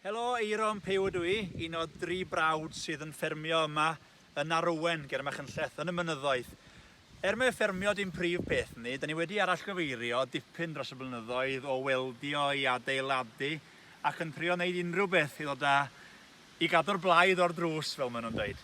Helo, Eiron Pew ydw i, un o dri brawd sydd yn ffermio yma yn Arwen, ger Machynlleth, yn y mynyddoedd. Er mae ffermio dim prif peth ni, da ni wedi arallgyfeirio dipyn dros y blynyddoedd o weldio i adeiladu ac yn trio wneud unrhyw beth i ddod â I gadw'r blaidd o'r drws, fel maen nhw'n dweud.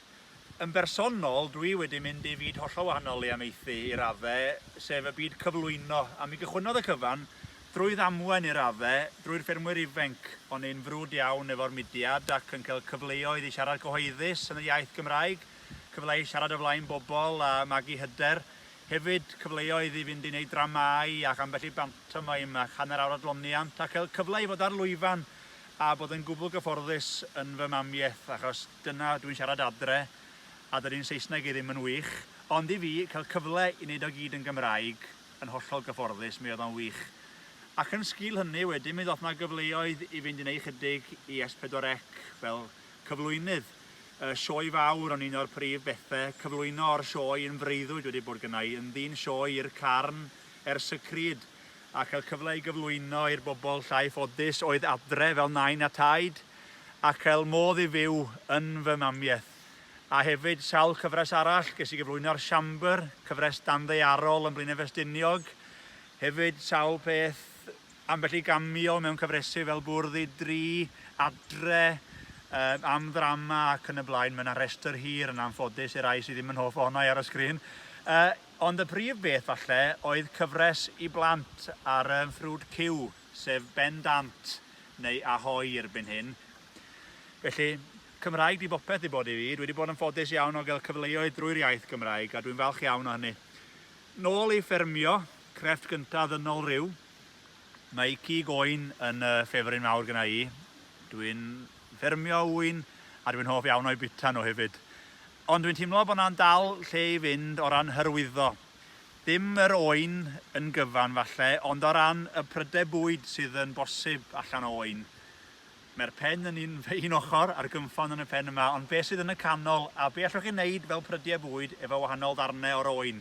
Yn bersonol, dwi wedi mynd i fyd hollol wahanol i amaethu i radde, sef y byd cyflwyno, a mi gychwynnodd y cyfan drwy ddamwen i radde, drwy'r ffermwyr ifenc. O'n i'n frwd iawn efo'r mudiad ac yn cael cyfleoedd i siarad cyhoeddus yn y iaith Gymraeg, cyfle i siarad o flaen bobl a magu hyder, hefyd cyfleoedd i fynd i wneud dramâu ac ambell i bantomeim ac hanner awr adloniant a cael cyfle i fod ar lwyfan A bod yn gwbl gyfforddus yn fy mamiaith, achos dyna dwi'n siarad adre, a dydy'n Saesneg i ddim yn wych. Ond i fi, cael cyfle i wneud o gyd yn Gymraeg, yn hollol gyfforddus, mi oedd o'n wych. Ac yn sgil hynny, wedyn mi ddoth 'na gyfleoedd i fynd i wneud chydig i S4C fel cyflwynydd. Y sioe fawr o'n un o'r prif bethe, cyflwyno o'r sioe yn freuddwyd wedi bod gynna i, yn ddyn sioe i'r carn ers y crud. a chael cyfle i gyflwyno i'r bobl llai ffodus oedd adre fel nain a taid, a chael modd i fyw yn fy mamiaith. A hefyd sawl cyfres arall, ges i gyflwyno ar Siambr, cyfres danddaearol yn Blaenau Ffestiniog, hefyd sawl peth, ambell i gamio mewn cyfresu fel Bwrdd i Dri, Adre, yy am ddrama ac yn y blaen, mae 'na restr hir yn anffodus i'r rhai sydd ddim yn hoff ohona i ar y sgrin. Yy. Ond y prif beth falle oedd cyfres i blant ar y ffrwd ciw, sef Ben Dant neu Ahoi erbyn hyn. Felly, Cymraeg 'di bopeth i bod i fi. Dwi 'di bod yn ffodus iawn o gael cyfleoedd drwy'r iaith Gymraeg a dwi'n falch iawn o hynny. Nôl i ffermio, crefft gynta ddynol rhyw. Mae cig oen yn y ffefryn mawr gyna i. Dwi'n ffermio ŵyn a dwi'n hoff iawn o'i bita nhw hefyd. Ond dwi'n teimlo bod 'na dal lle i fynd o ran hyrwyddo. Dim yr oen yn gyfan falle, ond o ran y prydau bwyd sydd yn bosib allan o oen. Mae'r pen yn un un ochr a'r gynffon yn y pen yma, ond be' sydd yn y canol, a be' allwch chi neud fel prydiau bwyd efo wahanol ddarnau o'r oen?